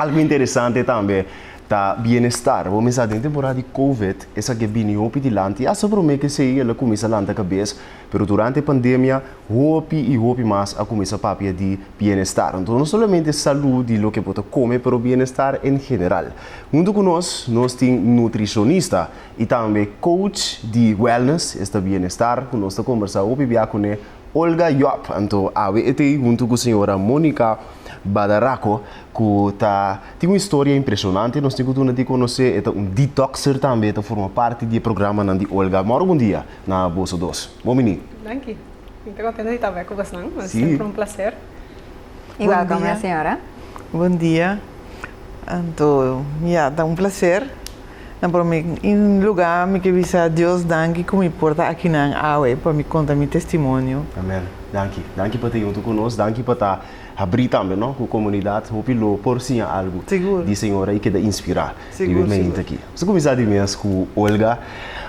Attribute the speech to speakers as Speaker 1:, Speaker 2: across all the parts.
Speaker 1: Algo interesante tambe ta bienestar. Bo misa den temporada di COVID, esaki a bini hopi dilanti. Hasta prome ke sei el a kuminsa lanta kabes, pero durante pandemia hopi i hopi mas a kuminsa papia di bienestar. Anto no solamente salú di loke bo ta kome, pero bienestar en general. Huntu ku nos, nos tin nutrishonista i tambe coach di wellness, esta bienestar, ku nos ta kombersá hopi bia kuné, Olga Job. Anto awe e tei huntu ku señora Monica Badaraco, ku ta tin un historia impresionante nos tin ku tuna di konosé. E ta un detoxer tambe, e ta forma parti di e programanan di Olga. Moro bon dia na boso dos. Bon bini. Danki. Mi ta kontento di ta avèk ku bosnan. Siempre un placer. Igual kome señora. Bon dia. Anto ya ta un placer. Na prome luga mi ke bisa Dios danki ku mi por ta akinan awe pa mi konta mi testimonio. Amen. Danki. Danki pa ta yunto ku nos. Danki pa ta habri tambe no ku komunidat hopi lo por siña algu di Señor i keda inspirá di wen na yunta aki. Nos a kuminsá di mes ku Olga.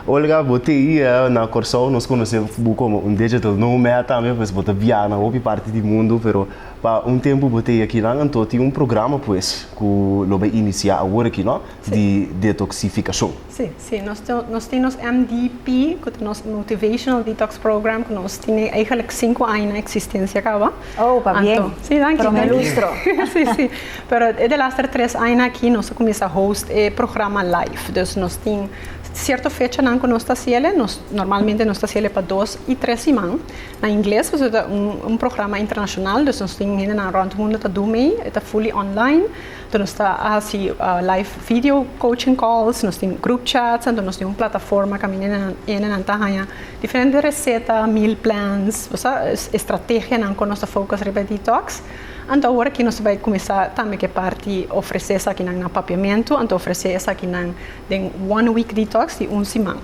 Speaker 1: Olga, bo te hia na Kòrsou. Nos konosé bo komo un digital nomad tambe pues bo ta biaha na hopi parti di mundu pero. Pa un tempu bo tei akinan, anto tin un programa pues ku lo bai inisiá awor aki no, di detoksifikashon. Sí, sí, nos ta, nos tin nos MDP, ku ta nos Motivational Detox Program, ku nos tine eigenlik sinku aña na eksistensia kaba. Oh, pa bien. Anto, sí, danki. Prome lustro. Sí, sí. Pero e de laster tres aña aki nos a kuminsá host e programa live. Dus nos tin sierto fechanan ku nos ta hasiel e, nos normalmente nos ta hasiel e pa dos i tres siman. Na ingles pasobra ta un programa internashonal dus nos tin hende nan rònt mundu ta duna ei. E ta fully online. Anto nos ta hasi live video coaching calls, nos tin group chats, anto nos tin un plataforma kaminda hende nan ta haña diferente reseta, meal plans, bosa estrategianan ku nos ta focus riba e detox. Anto awor aki nos ta bai kuminsá tambe ku e parti ofresé esakinan na papiamentu, anto ofresé esakinan Den One Week Detox di un siman.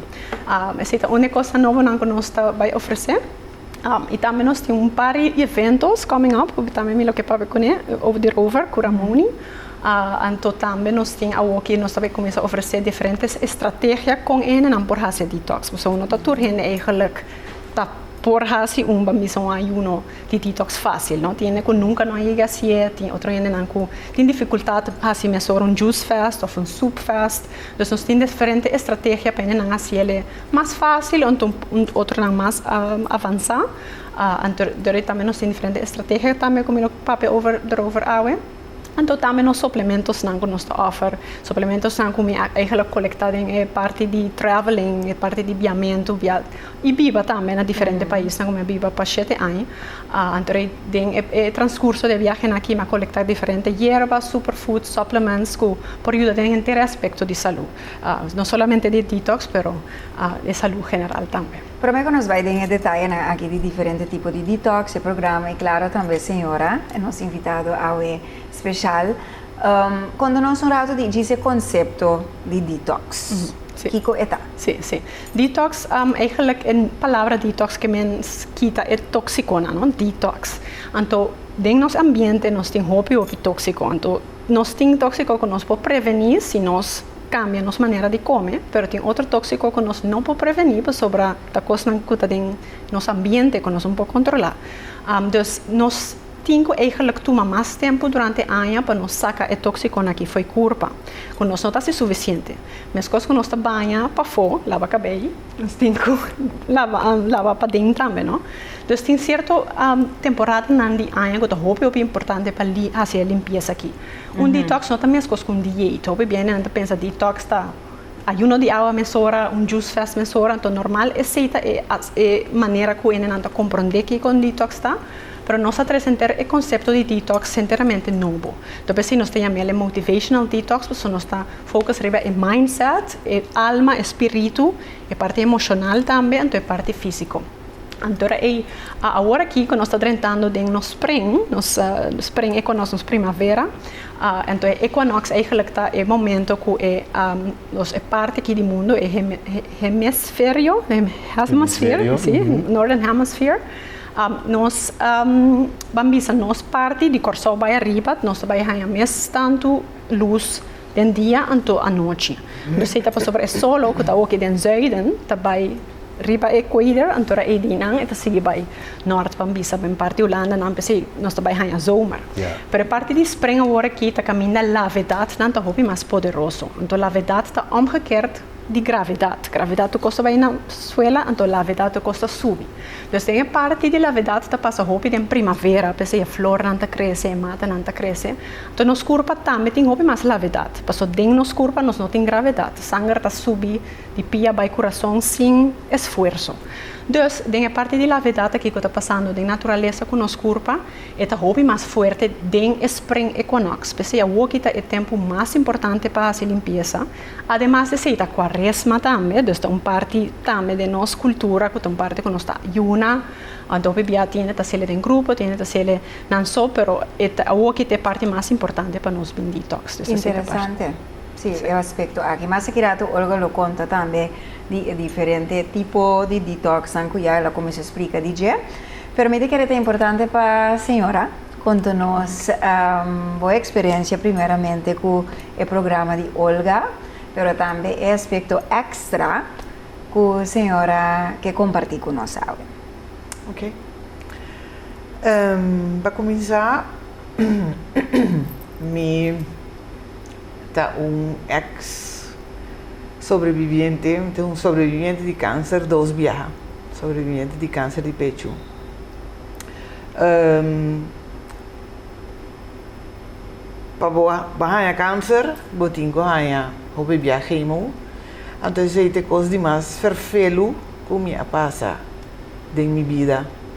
Speaker 1: Esei ta un di e kosnan nobonan ku nos ta bai ofresé. I tambe nos tin un par di eventos coming up ku tambe mi lo ke papia kuné over di Rover ku Ramoni. Anto tambe nos tin awor ke nos ta bai kuminsá ofresé diferente estrategia kon e hendenan por hasi e detox. Pasobra no ta tur hende ei geluk ta por hasi un bambisa un ayuno. Tin detox fácil, no tin hende ku nunka no a yega hasié, tin otro hendenan ku tin difikultat pa hasi mester ora un juice fast òf un soup fast. Dus nos tin diferente estrategia pa hendenan hasi el'e mas fácil o anto un otronan mas avansá. Anto tambe nos tin diferente estrategia tambe ku mi lo papia over derover awe. Anto tambe nos suplementosnan ku nos ta òfer, suplementosnan ku mi a eigenlik kolektá den e parti di traveling, e parti di biamentu, bia. I biba tambe na diferente paisnan ku mi a biba pa shete aña. Anto rei den e transkurso di e biahenan aki mi a kolektá diferente yerbas, superfood, supplements ku por yuda den henter e aspekto di salú. No solamente di detox pero di salú general tambe. Promé ku nos bai den e detayenan aki di diferente tipo di detox, e programa i klaro tambe señora, nos invitado awe speshal, Konta nos un ratu di djis e konsepto di detox. Kiko e ta? Sí, sí. Detox, eigenlijk e palabra detox ke men kita e toksikonan, no? Detox. Anto den nos ambiente nos tin hopi hopi toksiko. Anto nos tin toksiko ku nos por prevení si nos kambia nos manera di kome, pero tin otro toksiko ku nos no por prevení pasobra ta kosnan ku ta den nos ambiente ku nos no por kontrolá. Dus nos. Tin cu eigenlijk tuma mas tempo durante aña pa nos saca e toxiconan aki fo'i curpa, cu nos no ta haci suficiente. Mescos cu nos ta baña pafo, laba cabey, nos tin cu laba paden tambe, no? Dus tin cierto temporadanan di aña cu ta hopi hopi importante pa haci e limpieza aki. Un detox no ta mescos cu un dieta. Hopi biendenan ta pensa detox ta. ayuno di awa mesora, un juice fast mesora, enton normal esey ta e e manera cu hende nan ta comprende kico un detox ta, pero nos ta trece henter e concepto di detox henteramente nobo, ta por esey nos ta yamel e motivational detox pasobra nos ta focus riba e mindset, e alma, e spiritu, e parti emocional tambe, enton e parti fisico. Anto ra ei a awor aki cu nos ta drentando den nos spring, nos spring e conoce nos primavera, anto e equinox eigenlijk ta e momento cu e nos e parti aki di mundo e hemisferio, hemisferio, si, northern hemisphere, nos ban bisa nos parti di Corsou bai ariba nos ta bai haya mes tanto luz Den dia anto anochi. Dosei ta pasobra e solo ku ta oki den zuiden ta bai riba e kweder anto ra eidinan e ta sigui bai nort pan bisa den parti Hulanda nan p'esei nos ta bai haña zomer. Pero e parti di spring awor aki ta kaminda lavedat nan ta hopi mas poderoso anto lavedat ta omgekerd di gravedat gravedat tu kosta bai na suela anto lavedat tu kosta subi dus den e parti di lavedat ta pasa hopi den primavera p'esei e flornan ta krese e matanan ta krese Ta nos kurpa tambe tin hopi mas lavedat, paso den nos kurpa nos no tin gravedat, sanger ta subi di pia bai kurason sin esfuerso. Dus, den e parti di lavedat aki ku ta pasando den naturalesa ku nos kurpa, e ta hopi mas fuerte den e spring equinox, p'esei awoki ta e tempu mas importante pa hasi limpiesa, ademas d'esei ta Kuaresma tambe, dus ta un parti tambe den nos kultura ku ta un parti ku nos ta yuna, hopi bia tiende ta sele den grupo, tiende ta sele Nan so, pero e ta awokit ta e parti mas importante pa nos bindi detox di esaki ta parti. Interesante, si, e aspekto aki. Masa ki rato Olga lo konta tambe di e diferente tipo di detoksnan ku ya el a kuminsá splika di dje. Pero mi ta kere ta importante pa señora konta nos bo eksperensia primeramente ku e programa di Olga, pero tambe e aspekto èkstra ku señora ke kompartí ku nos awe. Oké. Pa kuminsá, mi ta un eks sobrebibiente, mi ta un sobrebibiente di kanser dos biaha, sobrebibiente di kanser di pechu. Pa bo bo haña kanser, bo tin ku haña hopi biaha kemo, anto esei ta e kos di mas ferfelu ku mi a pasa den mi bida.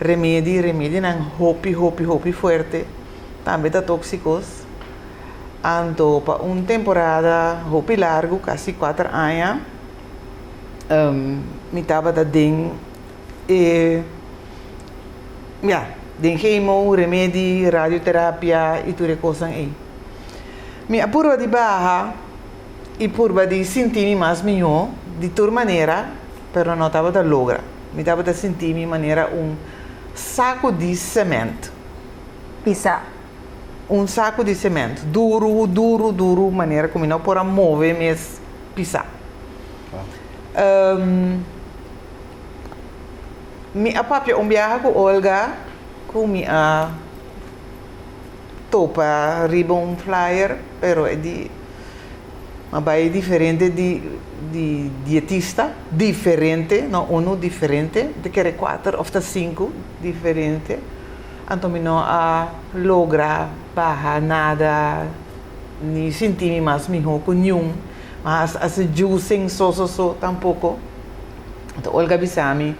Speaker 1: remedi, remedinan hopi hopi hopi fuerte tambe ta tóksikos. Anto pa un temporada hopi largu, kasi kuater aña, mi tabata den e, ya, den hemo, remedi, radioterapia i tur e kosnan ei. Mi a purba di baha i purba di sinti mi mas mihó di tur manera. pero no tabata logra. Mi tabata sinti mi manera un saku di sement pisá. Un saku di sement duru, duru, duru manera ku mi no por a move mes pisá. Um, mi a papia un biaha ku Olga ku mi a topa riba un flyer, pero e di. Ma bai diferente di di dietista. Diferente, no unu, diferente. Mi ta kere kuater òf ta sinku diferente. Anto mi no a logra baha nada ni sinti mi mas mihó ku niun. Ma a hasi juicing so so so tampoko. Anto Olga a bisa mi,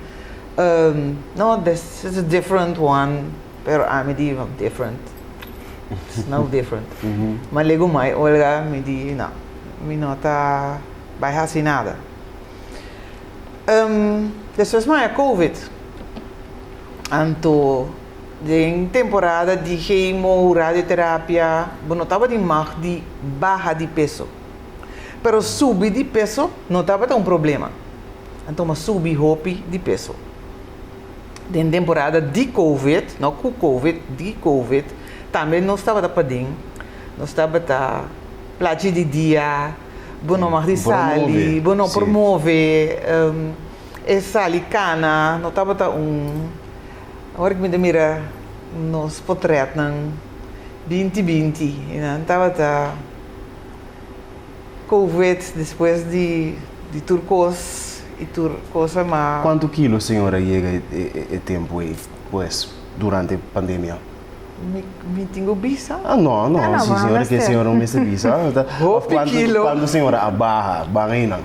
Speaker 1: No, this is a different one. Pero ami di no different. It's no different. Ma lego mai Olga mi di no, mi no ta bai hasi nada. Um, despues mai a Covid. Anto den temporada di chemo, radioterapia, bo no tabata mag di baha di peso. Pero subi di peso no tabata un problema. Anto mi a subi hopi di peso. den temporada di COVID, no cu COVID, di COVID, tambe nos tabata paden, nos tabata plachi di dia, bo no mag di sali, bo no promove, um, e sali cana, no tabata un, awor cu mi ta mira nos potretnan, binti binti, e nan tabata. Covid despues di di tur cos y tur cosa ma. Cuanto kilo señora yega e tempo ey pues durante pandemia? Mi tin cu bisa? Ah no no si señora kier señora no mester bisa of cuanto señora a baha ban eynan?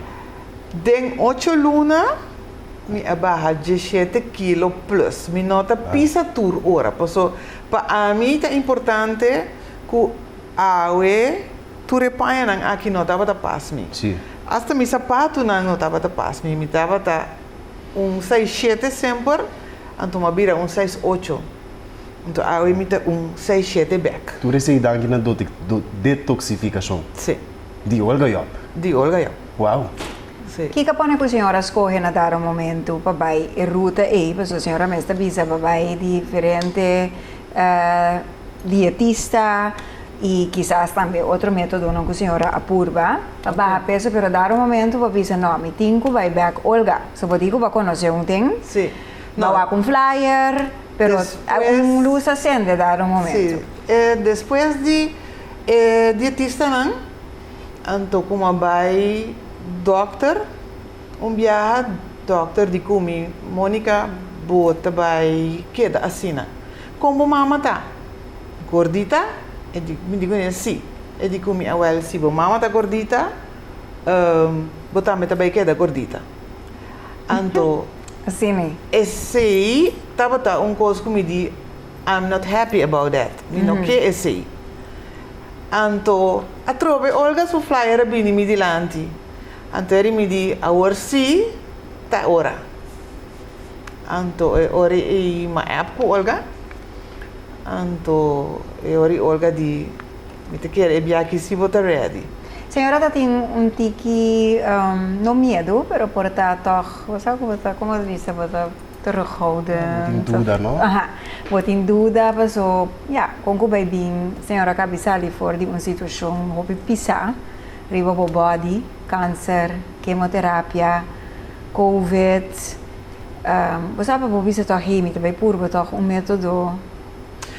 Speaker 1: Den ocho luna mi a baha dieschete kilo plus mi no ta pisa tur ora paso pa ami ta importante cu awe Tur e pañanan aki no tabata pas mi. Asta mi sapatunan no tabata pas mi. Mi tabata un sais shete semper, anto m'a bira un sais ocho. Anto awe mi ta un sais shete bek. Tur esei i danki na detoksifikashon. Sí. Di Olga Job. Di Olga Job. Wow! Sí. Kiko a pone ku señora skohe na dado momentu pa bai e ruta ei? Pasobra señora mes ta bisa pa bai diferente dietista, y kisas tambe otro metodonan cu señora a purba pa baha peso pero dado momento bo bisa no mi tin cu bay bek Olga so bo di cu bo conoce un tin bo wak un flyer pero un luz a sende dado momento despues di e dietistanan anto como a bay dokter un biaha dokter di cu mi Monica bo ta bay keda asina con bo mama ta Gordita? E di, mi di kune, sí. E di ku mi, Awèl, si bo mama ta gordita, bo tambe ta bai keda gordita. Anto, esei tabata un kos ku mi di, I'm not happy about that. Mi no ke esei. Anto, atrobe Olga su flyer a bini mi dilanti. Anto eri mi di, Awor sí, ta ora. Anto e ora i ma app ku Olga. Anto e ora i Olga di, Mi ta kere e biaha aki si bo ta ready. Señora ta tin un tiki, no miedu, pero por ta tòg, bo sa ku bo ta, komo ta bisa, bo ta terughouden. Bo tin duda, no? Aha. Bo tin duda, paso ya, kon ku bai bin, señora ka bisa ali for di un situashon hopi pisá riba bo bòdi, kanser, kemoterapia. Covid, bo sa pa bo bisa tog hei mi ta bai purba tog un metodo.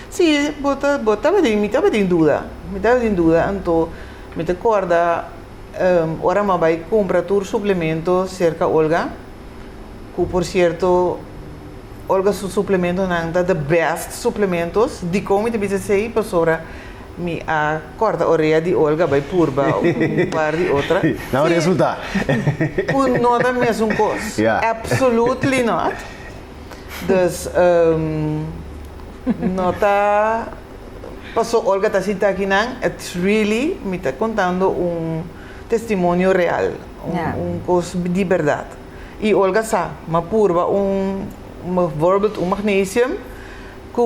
Speaker 1: Si, bo ta, bo tabati, mi tabati duda, mi tabati duda anto mi ta corda ora m'a bai cumpra tur suplemento cerca Olga, cu por cierto Olga su suplementonan ta the best suplementos, dicon mi ta bisa esey? Pasobra Mi a corta orea di Olga bay purba un par di otra. Na un resulta. Cu no ta mesun cos. Ya. Absolutely not. Dus no ta paso Olga ta sinta aki nan. It's really mi ta contando un testimonio real. Ya. Un cos di berdad. Y Olga sa, m'a purba un, m'a vorbild un magnesium Cu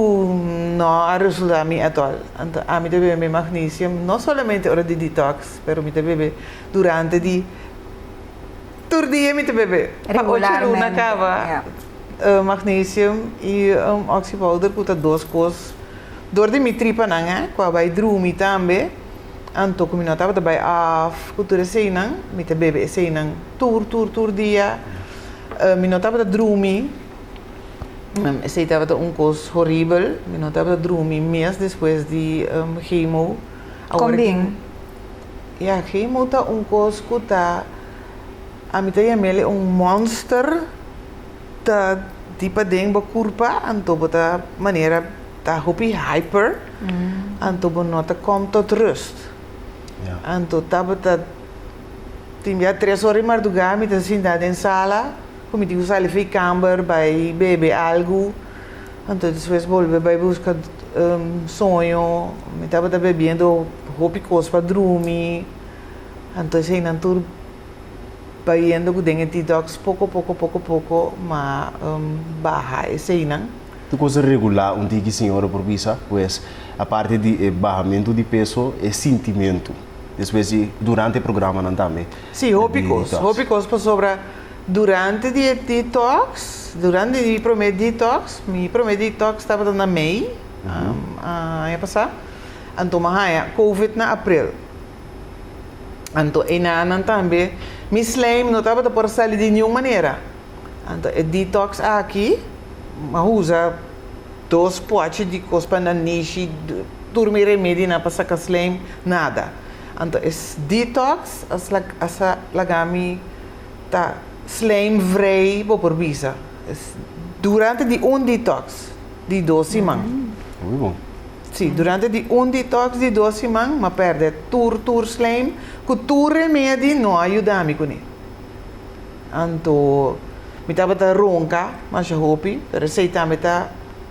Speaker 1: no a resulta mi at all. Anto ami ta bebe mi magnesium no solamente ora di detox pero mi ta bebe durante di tur dia mi ta bebe. Pa ocho luna caba magnesium y un oxy powder cu ta dos cos door di mi tripanan eh cu a bay drumi tambe anto cu mi no tabata bay off cu tur eseynan mi ta bebe eseynan tur tur tur dia mi no tabata drumi. Esei tabata un kos horibel. Mi no tabata drumi mes despues di um, chemo. Kon bien? Ja, chemo ta un kos ku ta... A mi ta yam'el un monster ta di paden bo kurpa, anto bo ta manera ta hopi hyper, anto bo no ta kom tot rust. Anto tabata, tin bia tres ora di mardugá mi ta sintá den sala. Cu mi tin cu sali fey camber bay bebe algo, anto despues bolbe bay busca soño, mi tabata bebiendo hopi cos pa drumi, anto eseynan tur bayendo cu den e detox poco poco poco poco ma baha eseynan. Tur cosa regula un tiki señora por bisa, pues aparte di e bahamento di peso e sintimento despues di durante e programanan tambe. Si hopi cos, hopi cos pasobra. Durante di e detox, durante di mi prome detox, mi prome detox tabata na mei, aña pasá, anto mi a haña Covid na april. Anto enanan tambe mi slijm no tabata por sali di niun manera. Anto e detox aki, mi a usa dos pochi di kos pa na nishi, tur mi remedinan pa saka slijm, nada. Anto e detox a laga mi. ta slijm vrij bo por bisa durante di un detox di dos siman. Muy bon. Sí, durante di un detox di dos siman, ma perde tur tur slijm, ku tur remedi no a yuda mi kuné. Anto mi tabata ronka masha hopi, pero esei tambe ta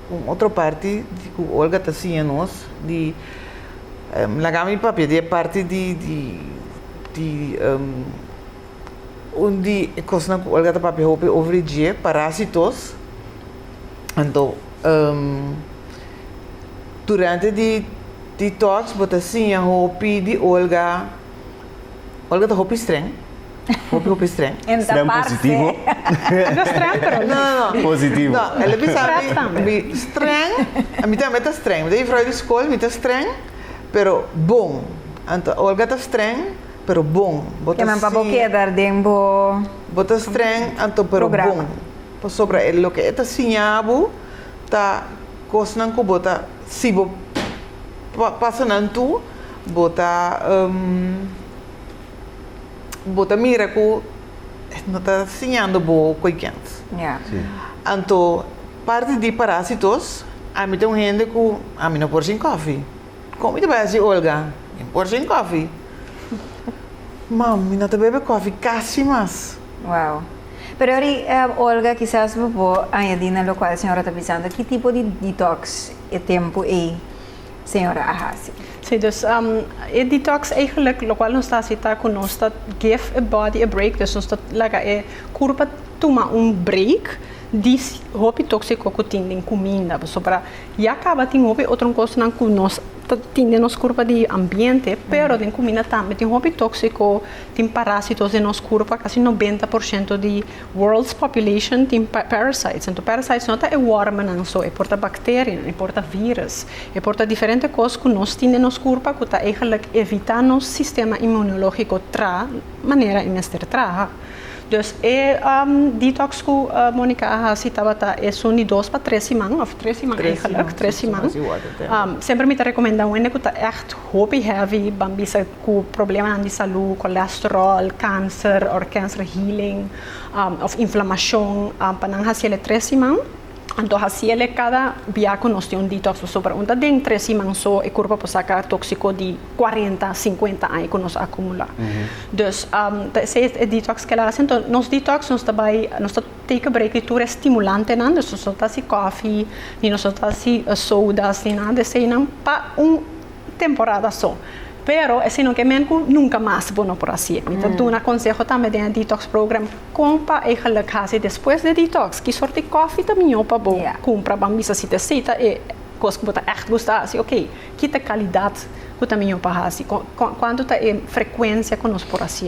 Speaker 1: un otro parti di ku Olga ta siña nos di laga mi papia di e parti di di di. Un di e kosnan ku Olga ta papia hopi over di dje, parásitos. Anto, durante di di tòks bo ta siña hopi di Olga, Olga ta hopi strèng, hopi hopi strèng. En ta Strèng parce. positivo? No strèng pero No, no, no. Positivo. No, el a bisa mi, Strèf tambe. mi strèng, mi tambe ta strèng. Mi ta juffrouw di skol, mi ta strèng, pero bon. Anto, Olga ta strèng. pero bon. Bo ta Keman pa bo siña, keda den bo bo ta streng, anto pero Programa. bon. Pasobra e loke e ta siña bo ta kosnan ku bo ta si bo pa- pasa nan tur bo ta bo ta mira ku e no ta siñando bo koikens. Ya. Sí. Anto parti di parasitos ami ta un hende ku ami no por sin kòfi. Kon mi ta bai a si Olga? Min por sin kofi. Mam, mi no ta bebe kofi kasi mas. Wow. Pero ora i Olga kisas bo por añadi na lokual señora ta bisando ki tipo di detox e tempu ei señora a hasi. Sí, dus e detox eigenlijk lokual nos ta hasi ta ku nos ta give e body a break, dus nos ta laga e kurpa tuma un break di hopi tóksiko ku tin den kuminda. Ya caba tin hopi otro cosnan cu nos ta tin den nos curpa di ambiente, pero den cumina tambe tin hopi toxico, tin parasitos den nos curpa, casi noventa por ciento di world's population tin parasites, enton parasites no ta e wormennan so, e por ta bacterianan, e por ta virus, e por ta diferente cos cu nos tin den nos curpa cu ta eigenlijk evita nos sistema inmunologico traha manera e mester traha. Dus e detox ku Monica a hasi tabata esun di dos pa tres siman, òf tres siman aigelik, tres siman. Semper mi ta rekomendá un hende ku ta ègt hopi heavy, ban bisa ku problemanan di salú, kolesteròl, kanser, òf kanser healing, òf inflamashon, pa nan hasiel e tres siman. Anto hasiel e kada bia ku nos tin un detox paso pregunta den tres siman so e kurpa por saka tóksiko di kuarenta, sinkuenta aña ku nos a akumulá. Dus ta esei e detox ke el a hasi. Anto nos detox nos ta bai nos ta take a break di tur e stimulantenan dus nos no ta hasi kòfi ni nos no ta hasi sodas ni nada di eseinan pa un temporada so pero e sino ke men ku nunka mas bo no por hasi. Mi ta duna konseho tambe den e detox program kon pa eigenlik hasi despues di e detox, ki sort di kòfi ta mihó pa bo kumpra ban bisa si ta esei ta e kos ku bo ta ègt gusta hasi oke ki ta e kalidat ku ta mihó pa hasi kuantu ta e frekuensia ku nos por hasi.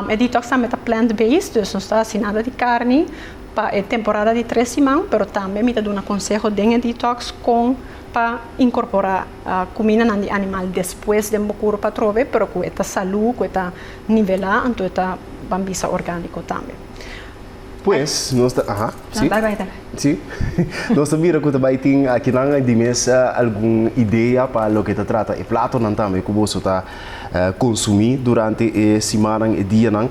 Speaker 1: E detox tambe ta plant based dus nos ta hasi nada di karni pa e temporada di tres siman pero tambe mi ta duna konseho den e detox kon pa inkorporá kumindanan di animal despues den bo kuru pa trobe pero ku e ta salú, ku e ta nivelá anto e ta ban bisa orgániko tambe. Pues nos ta aha si Bai bai ta. si nos ta mira ku ta bai tin akinan di mes algun idea pa loke ta trata e platonan tambe ku boso ta konsumí durante e simanan e dianan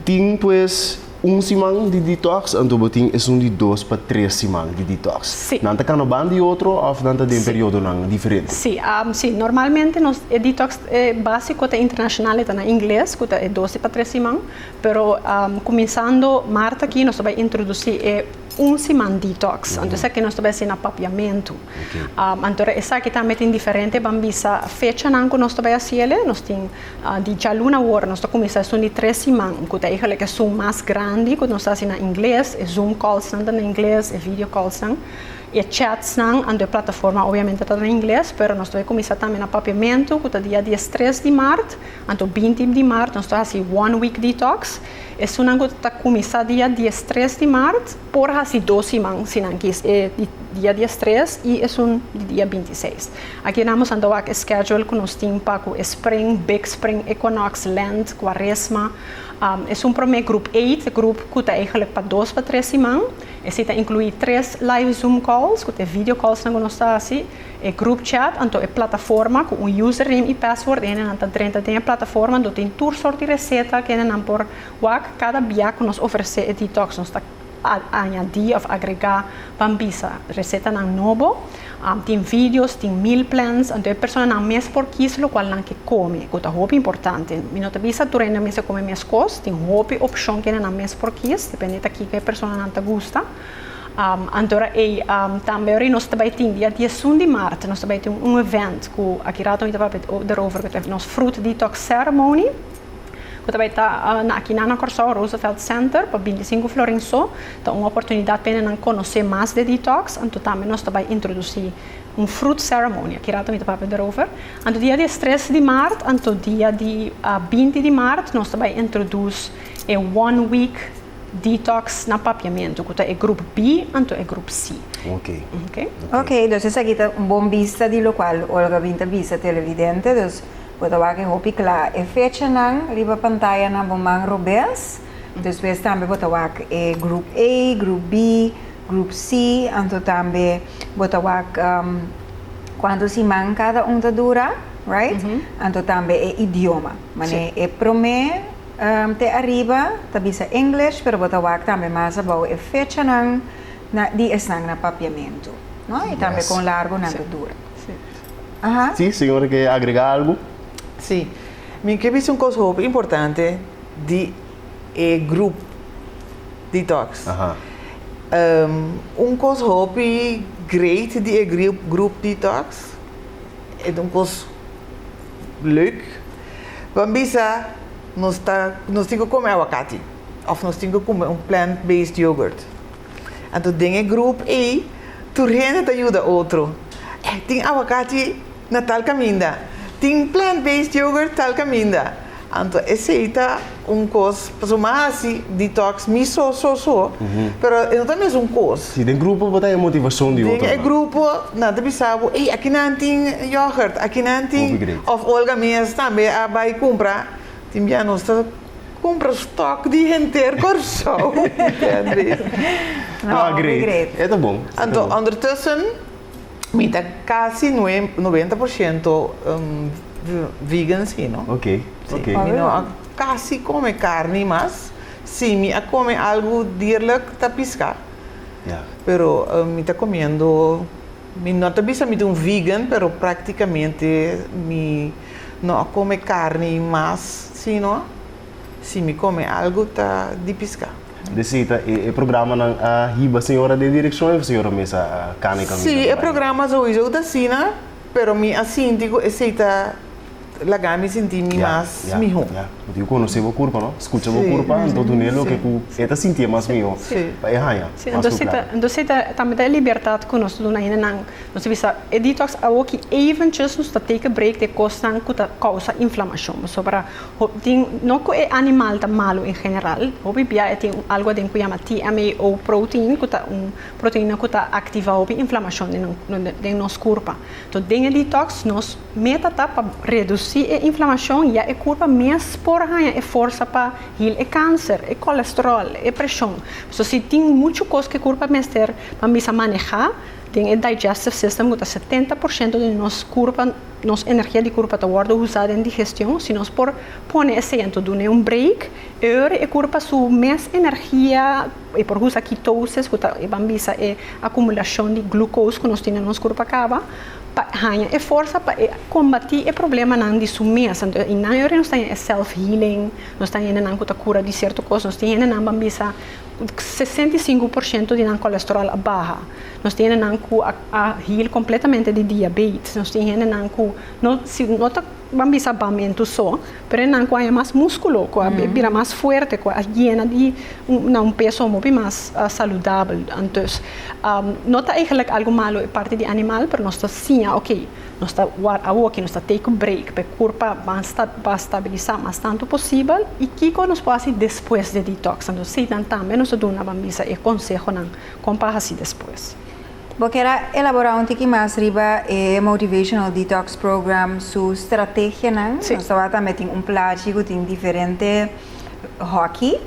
Speaker 1: tin pues Un siman di detox anto bo tin esun di dos pa tres siman di detox. Sí. Nan ta kanoban di otro of nan ta den Sí. periodonan diferente? Sí, am, sí, normalmente nos e detox eh, básico ta internacional, e ta na ingles, cu ta e dos di pa tres siman, pero am, cuminsando maart aki nos ta bay introduci e un siman detox, anto esaki nos ta bay hacina papiamento. Anto esaki tambe tin diferente ban bisa fechanan ku nos ta bai hasi el. Nos tin di djaluna wor nos ta kuminsá esun di tres siman ku ta eigelijk e Zoom mas grandi ku nos ta hasi na ingles, e Zoom callsnan ta na ingles, e video callsnan i e chatsnan anto e plataforma obiamente ta na ingles. Pero nos ta bai kuminsá tambe na papiamentu ku ta dia diestres di mart anto binti di mart nos ta hasi one week detox. Esunnan ku ta kuminsá dia diestres di mart. Por hasi dos siman si nan kies e di dia diestres i esun di dia bintiseis. Aki nan nos a dawak e schedule ku nos tin pa ku e spring, big spring equinox, lent, kuaresma. Esun promé grup eight, e grup ku ta eigenlik pa dos pa tres siman. Esei ta inkluí tres live zoom calls ku ta e video callsnan ku nos ta hasi, e group chat anto e plataforma ku un username i password i hende nan ta drenta den e plataforma anto tin tur sort di reseta kende nan por Wak kada bia ku nos ofresé e detox nos ta añadí òf agregá pan bisa resetanan nobo. Tin videos, tin meal plans, anto e personanan mes por kis lokual nan ke kome, ku ta hopi importante. Mi no ta bisa tur hende mester kome meskos, tin hopi opshon kende nan mes por kis, depende ta kiko e personanan ta gusta. Anto ora ei, tambe ora ei nos ta bai tin, dia diesun di mart nos ta bai tin un event ku aki rato mi ta papia derover, ku ta nos fruit detox ceremony. Cu ta bay ta na akinan na Corsou, Roosevelt Center, pa binti sinku florin so. Ta un oportunidad pa hende nan conoce mas de Detox. Anto tambe nos ta bay introduci un fruit ceremony. Aki rato mi ta papia derover. Anto dia di estres di maart, anto dia di binti di maart nos ta bay introdus e one week Detox na papiamentu cu ta e groep B anto e groep C. Ok. Ok, dus esaki ta un bon bista di locual Olga bin ta bisa televidente. Dus. Bo ta wak e hopi kla e fechanan riba pantayanan bo man robes. Despues tambe bo ta wak e grup A, grup B, grup C, anto tambe bo ta wak kuantu siman kada un ta dura, right? Anto tambe e idioma. Mane e promé te ariba ta bisa English, pero bo ta wak tambe mas abou e fechanan di esnan na papiamentu, no? I tambe kon largu nan ta dura. Aha. Sí, señora ke agrega algu? Sí. Mi ke bisa un kos hopi importante di e grup detox. Aha. Un kos hopi great di e grup detox, e ta un kos leuk. Ban bisa nos ta, nos tin ke kome awakati of nos tin ke kume un plant-based yogurt. Anto den e grup ei tur hende ta yuda otro. Eh, tin awakachi na tal kaminda. Tin plant-based yogurt tal kaminda. Anto esei ta un kos, pasobra mi a hasi detox mi so, so, so, pero e no ta mesun kos. Si, den grupo bo ta haña motivacion di otronan. Den e grupo nan ta bisa bo, ey, aki nan tin yogurt, aki nan tin. Koffie Great. Of Olga mes tambe a bai cumpra. Tin bia nos ta cumpra stock di henter Corsou. Ah, great. E ta bon. Anto, ondertussen, mi ta casi nue, noventa por ciento vegan si, no? Ok, ok. Mi no a casi come carni mas. Si mi a come algo dierlijk, ta pisca. Ya. Pero mi ta comiendo. Mi no ta bisa mi ta un vegan, pero práktikamente mi no a kome karni mas sino si mi kome algu ta di piská. De seta, e programanan a hiba señora den direkshon òf señora mes a kana e kaminda? Sí, e programa souiso ta asina, pero mi a sinti ku esei ta. Laga mi sinti mi mas miho. Ya, ya. Porque cu conoce bo curpa, no? Scucha bo curpa, anto dune loke cu e ta sinti e mas miho. Si. Pa e haya mas cu claro. Si, anto, anto si ta, tambe ta e libertad cu nos duna hindenan. Nos ta bisa, e detox awo ki eventjes nos ta take a break de cosnan cu ta causa inflamacion. Pasobra para hopi tin, no cu e animal ta malo en general, hopi bia e tin un algo aden cu yama TMAO protein cu ta un proteina cu ta activa hopi inflamacion den nos curpa. Enton den e detox nos. Meta ta pa reduci e inflamacion ya e curpa mes por haña e forsa pa heal e cancer, e colesterol, e presion. Pasobra si tin mucho cos cu e curpa mester pa bisa maneha, den e digestive system cu ta setenta por ciento di nos curpa, nos energia di curpa ta wordo usa den digestion, si nos por pone esei anto duna un break, e ora e curpa su mes energia, E por usa ketosis, ku ta e ban bisa e akumulashon di glukos ku nos tin den nos kurp a kaba, pa haña e forsa pa e kombatí e problemanan di su mes. Anto i nan yori nos ta haña e self healing, nos ta haña hendenan ku ta kura di sierto kos, nos tin hendenan ban bisa sesenta i sinku por shento di nan kolesteròl a baha, nos tin hendenan ku a heal kompletamente di diabetes, nos tin hendenan ku no si no ta. Ban bisa bamentu so, pero e nan ku a mas muskulo, ku a bira mas fuerte, ku a yena di na un peso hopi mas saludabel. Anto no ta eigenlijk algu malu e parti di animal, pero nos ta siña, oke, nos ta ward awoki, nos ta take un break, pa e kurpa ban stabilisa mas tantu posibel, i kiko nos por hasi despues di e detox. Anto si nan tambe nos ta duna ban bisa e konsehonan kon pa hasi despues. Bo kier a elaborá un tiki mas riba e Motivational Detox Program su strategianan? Nos tabata tambe tin un plachi ku tin diferente hòki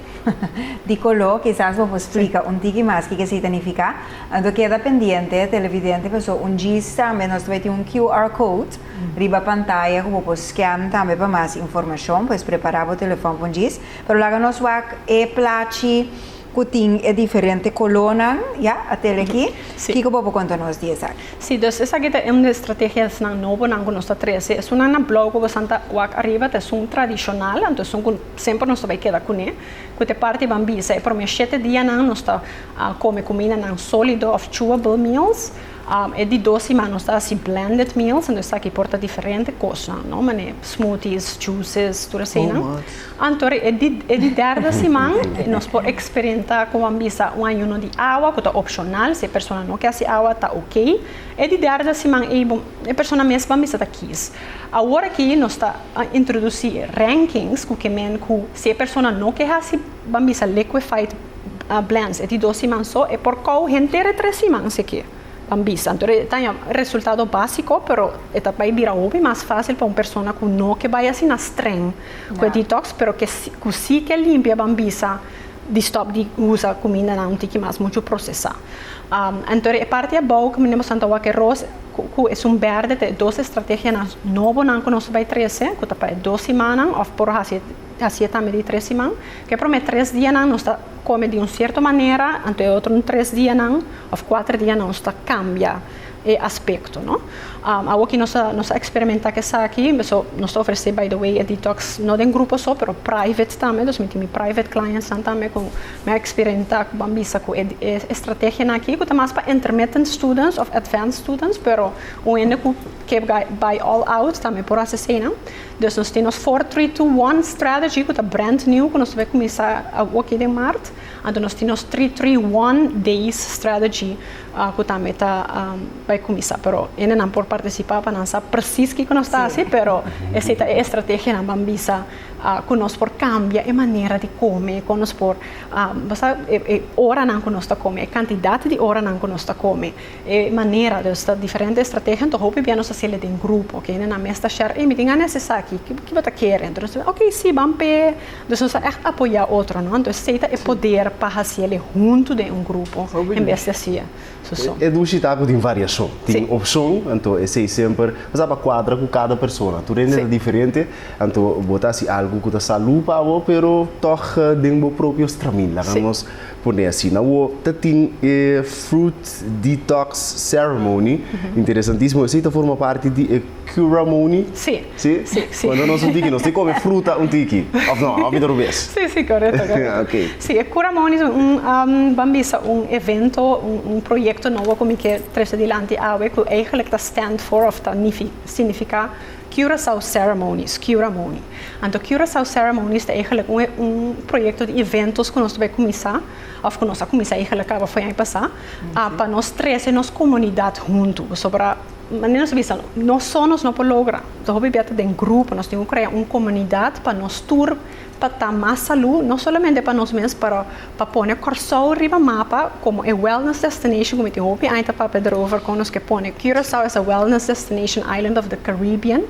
Speaker 1: di koló. Kisas bo por splika un tiki mas kiko esei ta nifiká. Anto keda pendiente televidente pasobra un djis tambe nos ta bai tin un QR code riba pantaya ku bo por scan tambe pa mas informashon. Pues prepará bo telefòn pa un djis. Pero laga nos wak e plachi Ku tin e diferente kolónan, ya, atel aki. Sí. Kiko bo por konta nos di esaki? Sí, dus esaki ta un di e strategiasnan nobonan ku nos ta trese. Esunnan na blòg ku bo san ta wak ariba ta esun tradishonal, anto esun ku semper nos ta bai keda kuné. Ku te parti ban bisa, e promé shete dianan nos ta kome kumindanan sólido òf chewable meals. E di dos siman nos ta hasi blended meals, entonces esaki por ta diferente cosnan, no? Manera smoothies, juices, tur asina. Anto e di derde siman nos por experimenta como ban bisa un ayuno di awa cu ta opcional, si e persona no ke hasi awa ta ok. E di derde siman ey bo e persona mes ban bisa ta kies. Awor aki nos ta introduci rankings cu ke men cu si e persona no ke hasi ban bisa liquefied. blends e di dos siman so e por kou henter e tres siman eseki pa bisa anto e ta un resultado básiko pero e ta bai bira hopi mas fásil pa un persona ku no ke bai asina streng ku e detox pero ke si ku si ke limpia ban bisa di stòp di usa kumindanan un tiki mas muchu prosesá anto e parti abou ku mi ta mostra awor ke ros ku e sun bèrdè ta e dos estrategianan nobonan ku nos bai trese ku ta pa e dos simannan òf por hasi hasi e tambe di e tres siman. Ke prome tres dianan nos ta kome di un sierto manera, anto e otro tres dianan òf kuater dianan nos ta kambia e aspekto, no. Awo aki nos ta nos ta eksperimentá ku esaki, so nos ta ofresé by the way e detoks no den grupo so pero private tambe, dus mi tin mi private clientsnan tambe ku mi a eksperientá ku bo a bisa ku e estrategianan aki ku ta mas pa intermittent students òf advance students pero un hende ku ke bai bai all out tambe por hasi asina. Dus nos tin nos four three two one strategy ku ta brand new ku nos ta bai kuminsá awo aki den Mart, anto nos tin nos three three one days strategy ku tambe ta bai kuminsá pero hende nan por partisipá pa nan sa presis kiko nos ta hasi pero esei ta e estrategianan ban bisa ku nos por kambia e manera di kome kon nos por e oranan ku nos ta kome e kantidat di oranan ku nos ta kome. E manera, dus ta diferente estrategia, anto hopi bia nos ta haciele den grupo, ok, nan a mes ta share, ey mi tin gana esaki, ki bo ta kere? Anto nos ta bisa, ok, si, ban p'e, dus nos ta echt apoya otro, no, anto esey ta e poder pa haciele hunto den un grupo, en bes di haci'e su son. E dushi ta cu tin variacion, tin opcion, anto esey semper, pasaba pa cuadra cu cada persona, tur hende ta diferente, anto bo ta haci algo cu ta salu pa bo, pero tog den bo propio stramin, laga nos. Pone asina bo ta tin e Fruit Detox Ceremony. Interesantismo. Esei ta forma parti di e Curamony? Si. Si? Si, si. Cuando nos un tiki nos tin come fruta un tiki, of no? Of ita rubes? Si, si, corecto, corecto. Ok. Si, e Curamony ta un, ban bisa un evento, un proyecto nobo cu mi ke trece dilanti awe cu eigenlijk ta stand for of ta significa. Curaçao Ceremonies, Curamoni. Anto Curaçao Ceremonies ta eglek un un proyekto di eventos ku nos ta bai kuminsá, òf ku nos a kuminsá eglek kaba foi aña pasá, a pa nos trese nos komunidat huntu. Pasobra manera nos ta bisa, nos sòn nos no por logra, ta hopi biaha ta den grupo, nos tin ku krea un komunidat pa nos tur pa ta mas salú no solamente pa nos mes pero pa pone Kòrsou riba mapa komo e wellness destination ku mi tin hopi aña ta papia derover kon nos ke pone Curaçao as a wellness destination island of the Caribbean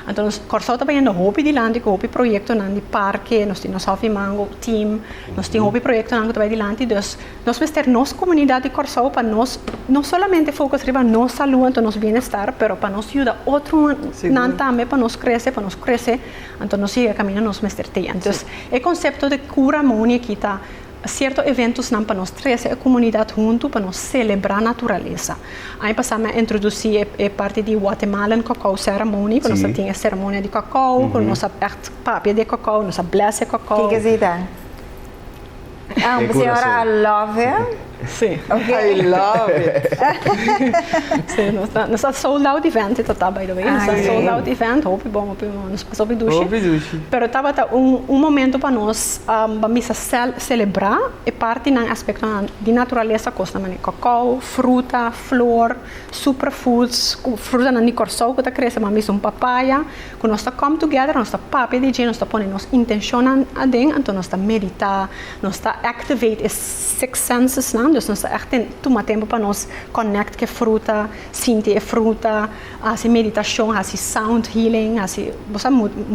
Speaker 1: anto nos Kòrsou ta bayendo hopi dilanti ku hopi proyektonan di parke nos tin nos Hòf di Mango team nos tin hopi proyektonan ku ta bai dilanti dus nos mester nos komunidat di Kòrsou pa nos no solamente fokus riba nos salú anto nos bienestar pero pa nos yuda otronan tambe pa nos krese pa nos krese Anto nos yega kaminda nos mester tia. Entonces e concepto de cura moni aki ta cierto eventosnan pa nos trece e comunidad hunto pa nos celebra naturaleza. Aña pasa mi a introduci e parti di Guatemalan cacao ceremony cu nos a tin e ceremonia di cacao cu nos a echt papia di e cacao, nos a bless e cacao. Kiko asina ta? Ah, mi señora I love him. Sí. Okay. I love it. sí, nos ta, nos ta sold out event dit ta by the way. Nos ta ah, sold out event, hopi bon, hopi bon, nos pas hopi dushi. Hopi dushi. Pero taba ta un, un momento pa nos um, pa misa cel, celebra e parte nan aspecto nan di naturaleza costa mane cacao, fruta, flor, superfoods, fruta nan di Corsou que ta crece, mami un papaya, Cu nos ta come together, nos ta papia di dje, nos ta pone nos intencionnan aden, anto nos ta medita, nos ta activate e six senses nan, dus nos ta echt tuma tempo pa nos connect cu e fruta, sinti e fruta, haci meditacion, haci sound healing, haci bo sa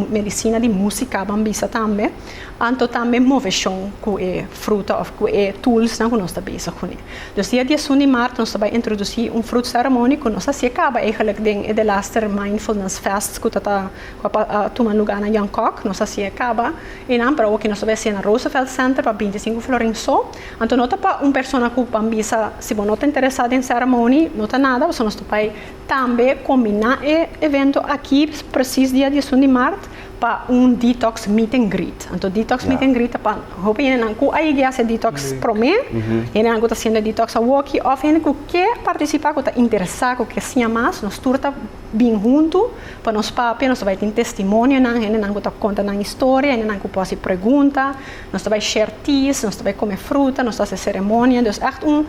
Speaker 1: medicina di musica ban bisa tambe, anto tambe movecion cu e fruta of cu e tools nan cu nos ta bezig cu ne. Nos dia dies un di maart nos ta bai introduci un fruit ceremony cu nos ta hacia caba eigenlijk den e Delaster Mindfulness Fest cu ta ta cu a pa a tuma luga na Jan Kok, nos ta hacia caba enan pero awoki nos ta bai hacia na Roosevelt Center pa binti sinku florin so, anto no ta pa un persona cu ban bisa si bo no ta interesa den ceremony no ta nada pasobra nos ta bai tambe combina e evento aki precies dia dies un di maart. pa un detox meet and greet anto detox meet and greet ta pa hopi hendenan ku a yeg'e hasi detox promé hendenan ku ta hasiendo e detox awokki òf hende ku ke partisipá ku ta interesá ku ke siña mas nos tur ta bin huntu pa nos papia nos ta bai tin testimonionan hendenan ku ta konta nan historia hendenan ku por hasi pregunta nos ta bai share teas nos ta bai kome fruta nos ta hasi seremonia dus ègt un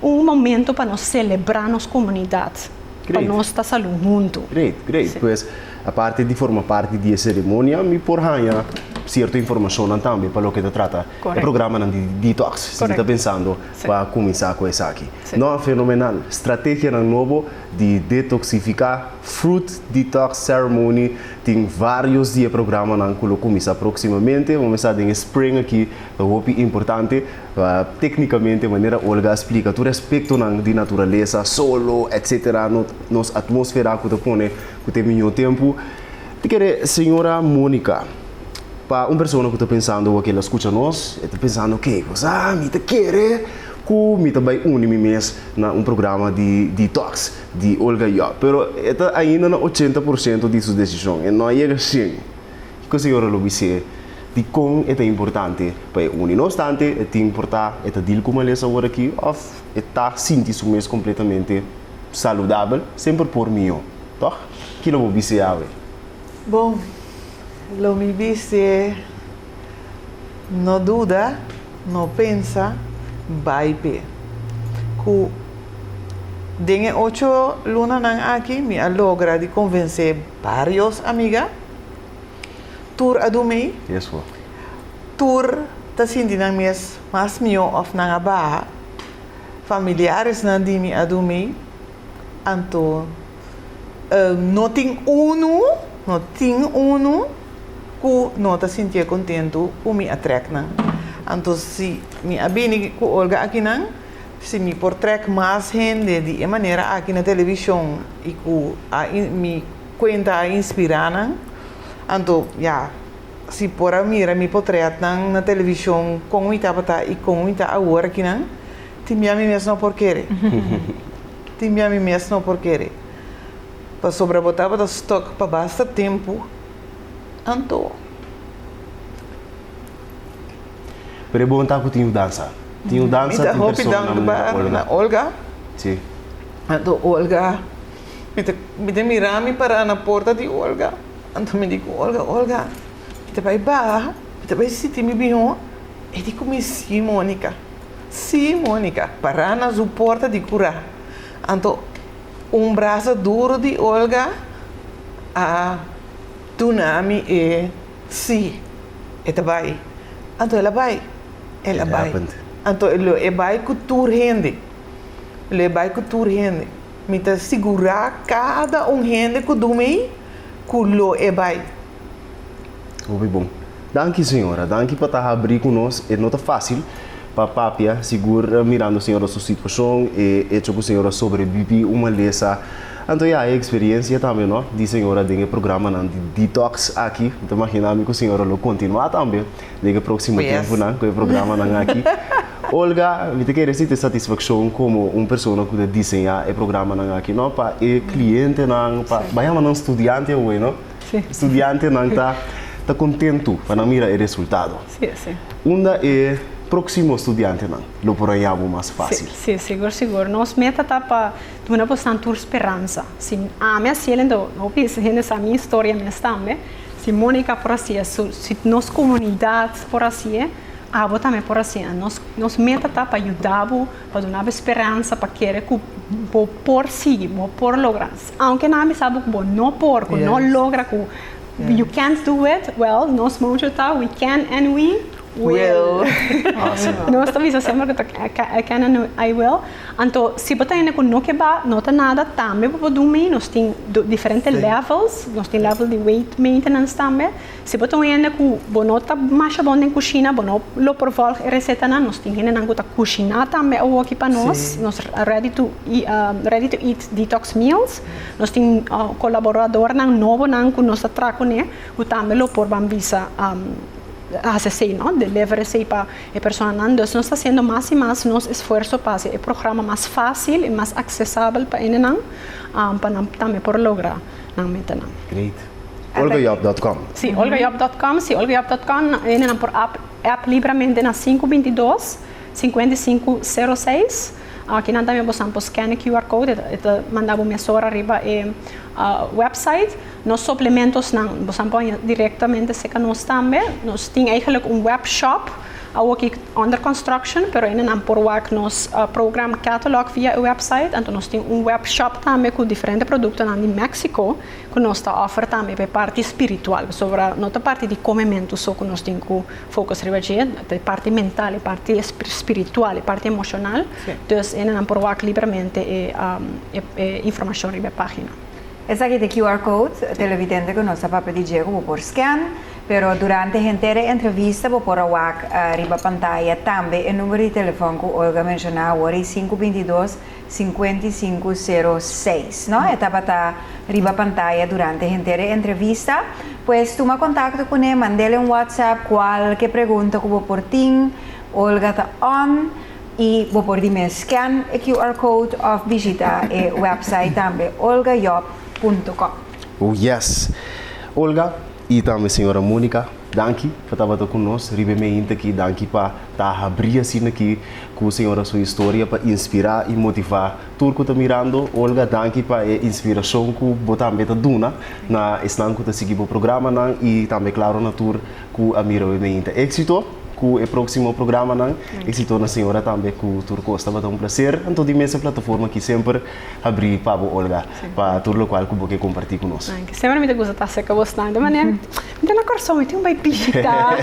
Speaker 1: un momento pa nos selebrá nos komunidat pa nos ta salú huntu. Aparte di forma parti di e seremonia, mi por haña sierto informashonnan tambe pa loke ta trata e programanan di detox, si mi ta pensando pa kuminsá ku esaki. No, fenomenal! Strategianan nobo di detoksifiká, Fruit Detox Ceremony, tin vários di e programanan ku lo kuminsá próksimamente. Momen sa den e spring aki ta hopi importante, téknikamente, manera Olga a splika, tur e aspektonan di naturalesa, solo, etcétera, nos atmósfera ku ta pone ku tin miñó tempu, ta kere señora Monica. Pa un persona ku ta pensando oua ke el a skucha nos, e ta pensando, Ke kusá mi ta kere ku mi ta bai uni mi mes na un programa di detox di Olga Job? Pero e ta ainda na ochenta por siento di su desishon, e no a yega shen. Kiko señora lo bis'é di kon e ta importante pa e uni? No obstante, e tin por ta e ta deal ku malesa aworakí òf e ta sinti su mes completamente saludabel, semper por mihó. Tòg? Kila bo bis'é awe? Bon, lo mi bis'é, no duda, no pensa, bai p'e. Cu den e ocho lunanan aki mi a logra di convencé barios amiga, tur a dumi, Yes, ho. tur ta sinti nan mes Mas mihó òf nan a baha familiaresnan di mi a dun mi, anto no tin unu, no tin unu ku no ta sintié kontentu ku mi a trèk nan. Anto si mi a bini ku Olga akinan, si mi por trèk mas hende di e manera aki na televishon i ku a mi kuenta a inspirá nan, anto ya. Si por a mira mi potretnan na televishon kon mi tabata i kon mi ta awor akinan, tin bia mi mes no por kere. Tin bia mi mes no por kere. Pasobra bo tabata stok pa basta tempu, anto. Pero e bon ta ku tin yu dansa. Tin yu dansa, tin persona na mi ta Olga. Mi ta hopi dankba na Olga. Si. Anto Olga Mi ta, mi ta mira mi para na porta di Olga. Anto mi di ku Olga, Olga, mi ta bai baha, mi ta bai siti mi bihon. E di ku mi, Si, Monica. Si, Monica. Para na su porta di kura. Anto un brasa duru di Olga a duna mi e si. E ta bai. Anto el a bai. El a bai. Anto lo e bai ku tur hende. Lo e bai ku tur hende. Mi ta sigurá kada un hende ku dumi ei ku lo e bai. Hopi bon. Danki señora. Danki pa ta habrí ku nos. E no ta fásil pa papia sigur mirando señora su situashon, e echo ku señora sobrebibí un malesa. Anto ya e eksperensia tambe no di señora den e programanan di detox aki. Mi ta imaginá mi ku señora lo kontinuá tambe. Dje ke próksimo tempunan ku e programanan aki. Olga, mi ta kere sinti satisfakshon komo un persona ku ta diseñá e programanan aki, no? Pa e klientenan, pa bai yama nan studiante awe, no? Studiantenan ta ta kontentu pa nan mira e resultado. Unda e próksimo studiantenan lo por haña bo mas fásil? Sí, sí, sigur, sigur. Nos meta ta pa duna boso nan tur speransa. Si ami a hasi el, enton hopi hende sa mi historia mes tambe. Si Monica por haci'e, so si nos comunidad por haci'e, abo tambe por hacinan. Nos nos meta ta pa yudabu, pa dunabo esperansa, pa kere cu bo por sigui, bo por logra. Aunke nan a bisabu cu bo no por, cu no logra, cu you can't do it, well nos moucho ta we can and we will. Awesome. Nos ta bisa semper cu ta I can and I will. Anto si bo ta hende ku no ke ba, no ta nada, tambe bo por dun mei. Nos tin diferente levels, nos tin level di weight maintenance tambe. Si bo ta un hende ku bo no ta masha bon den kushina, bo no lo por vòlg e resetanan, nos tin hendenan ku ta kushiná tambe awoki pa nos. Nos ready to ready to eat detox meals. Nos tin kolaboradornan nobonan ku nos ta traha kuné ku tambe lo por ban bisa hasi esei, no, deliver esei pa. E personanan dus nos ta hasiendo mas i mas nos esfuerso pa hasi e programa mas fácil i mas aksesabel pa hendenan pa nan tambe por logra nan metanan. Great. Olgajob dot com. Sí, Olgajob dot com. Sí, Olgajob dot com. Hendenan por app app libramente na sinku binti dos, sinkuenta i sinku, sero seis. Kinan tambe bosan por scan e QR code e ta manda bo mesora riba e website. Nos suplementosnan bo san poña directamente seca nos tambe. Nos tin eigenlijk un webshop awo ki under construction pero aina nan por wak nos program catalog via e website. Anto nos tin un webshop tambe cu diferente productonan di Mexico cu nos ta offer tambe pa e parti spiritual. Pasobra no ta parti di come mentu so cu nos tin cu focus riba dje. Ta e parti mental, e parti spiritual, e parti emocional. Dus aina nan por wak libremente e informacion riba e pagina. Esaki t'e QR code, televidente cu nos a papia di dje cu bo por scan, pero durante henter e entrevista bo por a wak riba pantaya tambe e numero di telefon cu Olga a menciona awor ei sinku binti i dos, sinkuenta i sinku, sero seis, no? E tabata riba pantaya durante henter e entrevista. Pues tuma contacto cune, mand'el en WhatsApp cualke pregunta cu bo por tin, Olga ta on. Y bo por di mes scan e QR code of bishita e website tambe olgajob.com. Oh yes! Olga y tambe señora Monica, danki pa tabata cu nos riba e mehinta aki. Danki pa ta habri asina aki cu señora su historia pa inspira y motiva tur cu ta mirando. Olga, danki pa e inspiracion cu bo tambe ta duna na esnan cu ta sigui bo programanan y tambe claro na tur. ku a mira we meinta éksito ku e próksimo programanan. Éksito na señora tambe ku tur kos. Tabata un plaser anto di mester plataforma aki semper habrí pa bo Olga pa tur lokual ku bo ke kompartí ku nos. Danki. Semper mi ta gusta ta serka bo asnan. De manera mi ta na Kòrsou mi tin un bai bishita.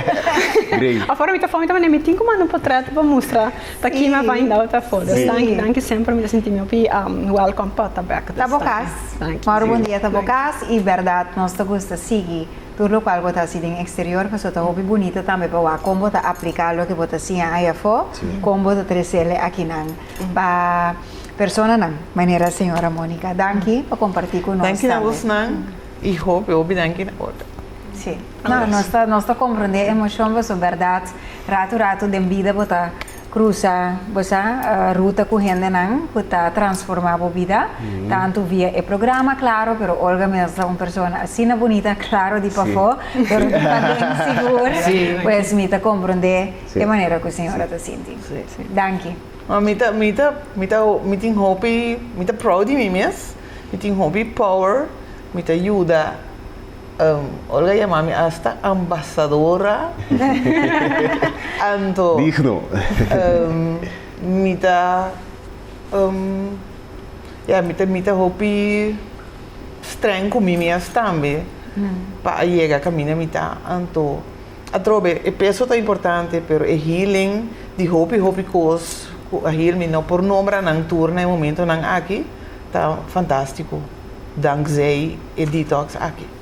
Speaker 1: Afora mi ta for mi ta manda mi tin ku manda un potrèt pa mustra ta ki mi a bai indau ta for. Pues danki danki semper mi ta sinti mi hopi welkom pòrta bèk. Ta bo kas. Danki. Mòrò bon dia ta bo kas i bèrdat nos ta gusta sigui. Tur lokual bo ta hasi den eksterior pasobra ta hopi bunita tambe pa wak kon bo ta apliká loke bo ta siña ai afó, kon bo ta tresele akinan pa personanan manera señora Mónica. Danki pa kompartí ku nos tambe. Danki na bosnan i hopi hopi danki na Olga. Sí. No, nos ta, nos ta komprondé e emoshon pasobra bèrdat ratu ratu den bida bo ta. Cruza bo sa ruta cu hendenan cu ta transforma bo bida, tantu via e programa Claro, pero Olga mes ta un persona asina bunita, claro di pafo, pero di paden sigur, pues mi ta comprende e manera cu señora ta sinti. Danki. Ma mi ta, mi ta, mi ta, mi tin hopi, mi ta proud di mi mes, mi tin hopi power, mi ta yuda. Olga yama mi asta ambasadora, anto mi ta ya mi ta mi ta hopi strèng ku mi mias tambe pa a yega kaminda mi ta anto atrobe be e peso ta importante pero e healing di hopi hopi kos ku a heal mi no por nombra nan tur na e momento nan aki ta fantastiko danksei. e detox aki.